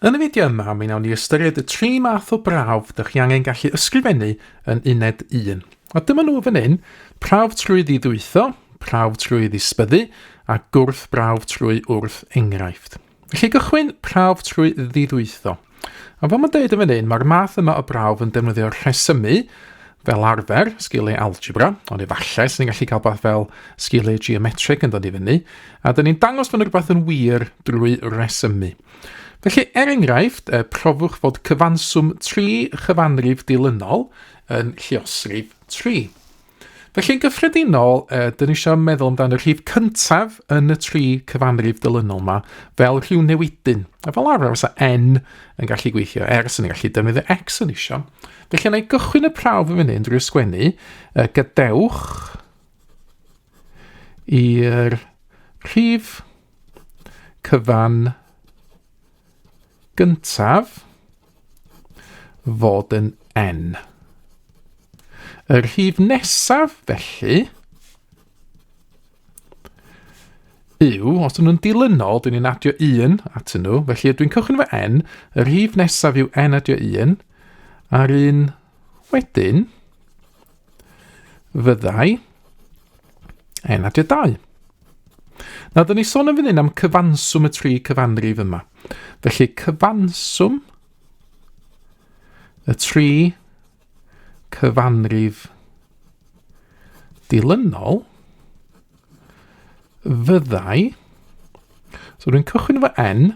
Yn y fideo yma, mi wnawn ni ystyried y tri math o brawf dych chi angen gallu ysgrifennu yn uned 1. A dyma nhw fan hyn, prawf trwy ddidwytho, prawf trwy ddisbyddu a gwrth brawf trwy wrth enghraifft. Felly gychwyn prawf trwy ddidwytho. A fel mae'n dweud yn fan hyn, mae'r math yma o brawf yn defnyddio rhesymu fel arfer, sgiliau algebra, ond efallai sy'n ni'n gallu cael beth fel sgiliau geometric yn dod i fyny, a dyn ni'n dangos bod rhywbeth yn wir drwy resymu. Felly, er enghraifft, y profwch fod cyfanswm tri chyfanrif dilynol yn lliosrif 3. Felly'n gyffredinol, e, dyn ni eisiau meddwl amdano rhif cyntaf yn y tri cyfanrif dilynol yma fel rhyw newidyn. A fel arfer, fysa n yn gallu gweithio, er sy'n gallu defnyddio x yn eisiau. Felly yna i gychwyn y prawf yn fyny drwy ysgwennu, e, gadewch i'r rhif cyfan gyntaf fod yn n. Y rhif nesaf, felly, yw, os ydyn nhw'n dilynol, dyn ni'n adio 1 at nhw, felly dwi'n cychwyn fy n, y rhif nesaf yw n adio 1, a'r un wedyn, fyddai N adio 2. Nawr, dyn ni sôn yn fan hyn am cyfanswm y tri cyfanrif yma. Felly, cyfanswm y tri cyfanrif dilynol fyddai... So, rwy'n cychwyn efo n,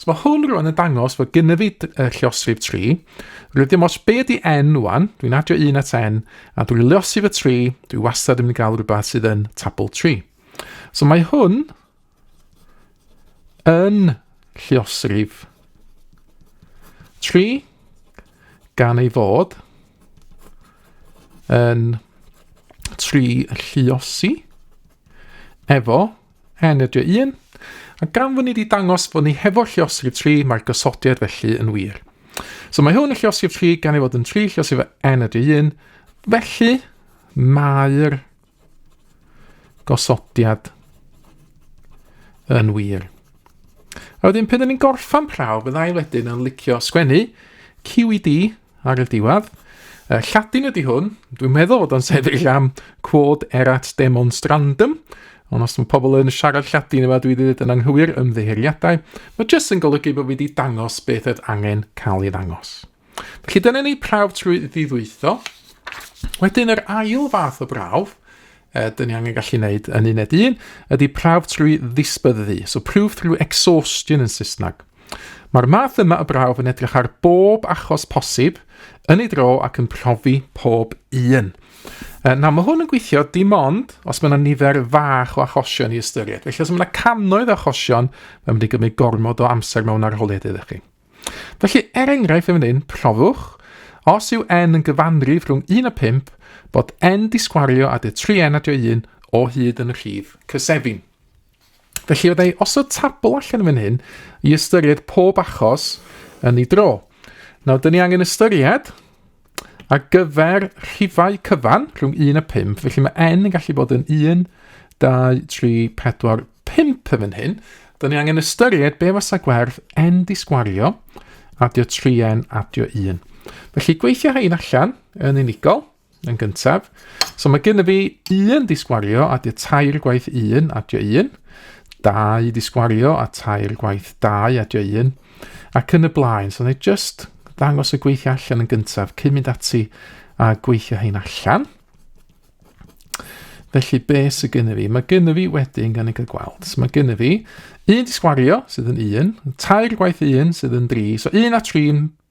So mae hwn rwan yn dangos fod gynnu fi uh, llosrif 3. Rwy'n ddim os be di n rwan, dwi'n adio 1 at n, a dwi'n llosrif y 3, dwi wastad yn mynd i gael rhywbeth sydd yn tabl 3. So mae hwn yn llosrif 3 gan ei fod yn 3 lliosi efo Hen ydy un, a gan fod ni wedi dangos fod ni hefo lliosrif 3, mae'r gosodiad felly yn wir. So mae hwn yn lliosrif 3 gan ei fod yn 3 lliosrif n ydy 1, felly mae'r gosodiad yn wir. A wedyn, pan ni'n gorffan prawf, byddai wedyn yn licio sgwennu QED, ar y diwedd. Uh, Lladin ydy hwn, dwi'n meddwl bod o'n sefyll am quod erat demonstrandum, ond os mae pobl yn siarad Lladin yma, dwi wedi dweud yn anghywir ymddeheuriadau, mae jyst yn golygu bod fi wedi dangos beth oedd angen cael ei ddangos. Felly dyna ni prawf trwy ddiddwytho. Wedyn yr ail fath o brawf, uh, dyn ni angen gallu wneud yn uned un, ydy prawf trwy ddisbyddu, so proof through exhaustion yn Saesneg. Mae'r math yma o brawf yn edrych ar bob achos posib yn ei dro ac yn profi pob un. Na, mae hwn yn gweithio dim ond os mae yna nifer fach o achosion i ystyried. Felly os mae yna cannoedd o achosion, mae'n mynd i gymryd gormod o amser mewn arholiad iddo chi. Felly, er enghraifft yn fan hyn, profwch, os yw n yn gyfanrif rhwng 1 a 5, bod n disgwario a dy 3n a dy 1 o hyd yn y rhif cysefin. Felly oedd ei osod tabl allan fan hyn i ystyried pob achos yn ei dro. Nawr, dyn ni angen ystyried a gyfer rhifau cyfan rhwng 1 a 5, felly mae n yn gallu bod yn 1, 2, 3, 4, 5 fan hyn. Dyn ni angen ystyried be fasa gwerth n di sgwario, adio 3n, adio 1. Felly gweithio hyn allan yn unigol. yn gyntaf. So mae gen i fi un disgwario a dy tair gwaith un a dy un, dau disgwario a tair gwaith dau a dy un, ac yn y blaen. So neu just ddangos y gweithio allan yn gyntaf cyn mynd ati a gweithio hyn allan. Felly be sy'n gen i fi? Mae gen i fi wedyn gan ei cael gweld. So mae gen i fi un disgwario sydd yn un, tair gwaith un sydd yn dri. So un a tri'n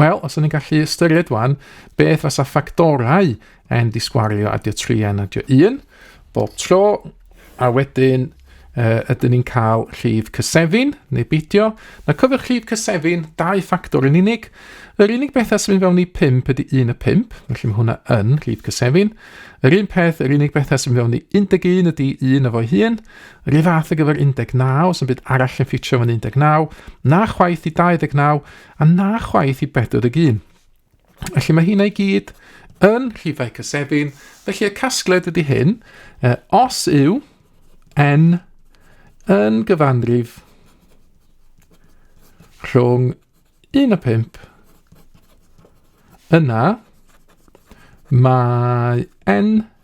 Wel, os o'n i'n gallu ystyried wan, beth fasa ffactorau yn disgwario adio 3 a adio 1 bob tro, a wedyn uh, ydyn ni'n cael llif cysefin, neu beidio. Na cyfych llif cysefin, dau ffactor yn unig. Yr unig beth as mynd fewn i 5 ydy 1 y 5, felly mae hwnna yn llif cysefin. Yr un peth, yr unig beth as mynd fewn i 11 ydy 1 efo'i hun, Rhyw fath ar gyfer 19, os yn byd arall yn ffitio yn 19, na chwaith i 29, a na chwaith i 41. Felly mae hynna i gyd yn rhifau cysefin, felly y casgled ydy hyn, uh, os yw n yn gyfanrif rhwng 1 a 5, yna mae n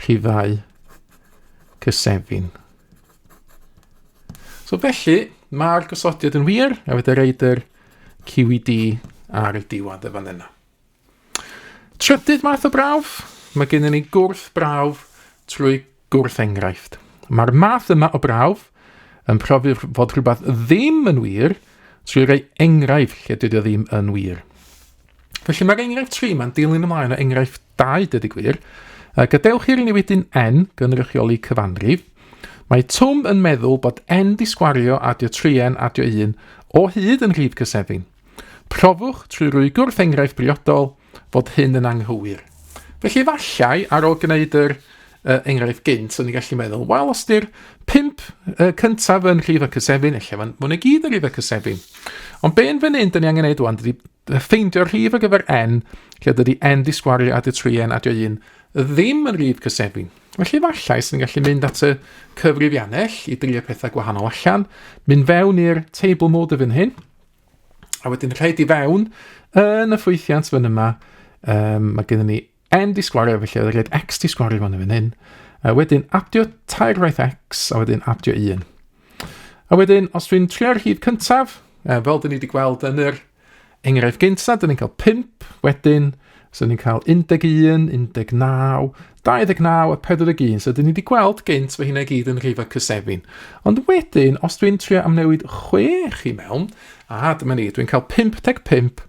rhifau cysefin. So felly, mae'r gosodiad yn wir, a fydde reid yr QED ar y diwedd y fan yna. Trydydd math o brawf, mae gennym ni gwrth brawf trwy gwrth enghraifft. Mae'r math yma o brawf yn profi fod rhywbeth ddim yn wir trwy roi enghraifft lle dydy o ddim yn wir. Felly mae'r enghraifft 3 mae'n dilyn ymlaen o enghraifft 2, dyd y gwir. A gadewch i'r newidyn n gynrychioli cyfanrif. Mae Twm yn meddwl bod n di sgwario adio 3n adio 1 o hyd yn rhif cysefin. Profwch trwy rwy gwrth enghraifft briodol fod hyn yn anghywir. Felly efallai, ar ôl gwneud yr uh, enghraifft gynt, o'n i'n gallu meddwl, wel, os di'r pimp uh, cyntaf yn rhif y cysefin, efallai fan hwn i gyd yn rhif y cysefin. Ond be yn fan hyn, dyn ni angen neud wan, dydy Ffeindio'r rhif ar gyfer n, lle dydy n ddisgwario at y tri n a dio un ddim yn rhif cysefin. Felly efallai sy'n gallu mynd at y cyfrifiannell i drio pethau gwahanol allan, mynd fewn i'r table mode y fyn hyn, a wedyn rhaid i fewn yn y ffwythiant fyn yma, um, mae gennym ni N di sgwario, felly oedd rhaid x di sgwario fan yn hyn. A wedyn abdio tair waith x, a wedyn abdio 1. A wedyn, os dwi'n trio'r hyd cyntaf, e, fel dyn ni wedi gweld yn yr enghraifft gyntaf, dyn ni'n cael 5, wedyn, so ni'n cael 11, 19, 29 a 41, so dyn ni wedi gweld gynt fy hynna gyd yn rhifau cysefin. Ond wedyn, os dwi'n trio amnewid 6 i mewn, a dyma ni, dwi'n cael 55,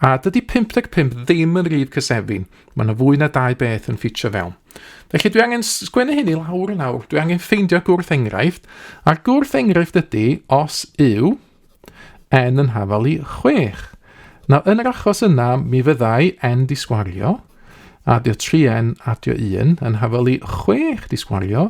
A dydy 55 ddim yn rif cysefin, mae yna fwy na dau beth yn ffitio fewn. Felly dwi angen sgwennu hyn i lawr yn awr, dwi angen ffeindio gwrth enghraifft, a'r gwrth enghraifft ydy os yw n yn hafal i 6. Nawr, yn yr achos yna, mi fyddai n di sgwario, a dio 3n a dio 1 yn hafal i 6 di sgwario,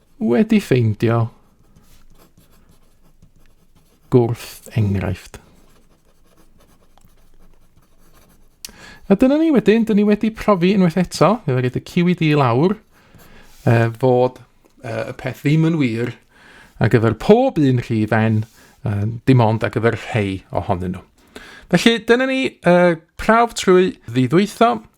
Wedi ffeindio gwrth enghraifft. A dyna ni wedyn, dyn ni wedi profi unwaith eto, fe wedi y QED lawr, e, fod e, y peth ddim yn wir ar gyfer pob un rhi fen, e, dim ond ar gyfer rhai ohonyn nhw. Felly, dyna ni e, prawf trwy ddiddwytho,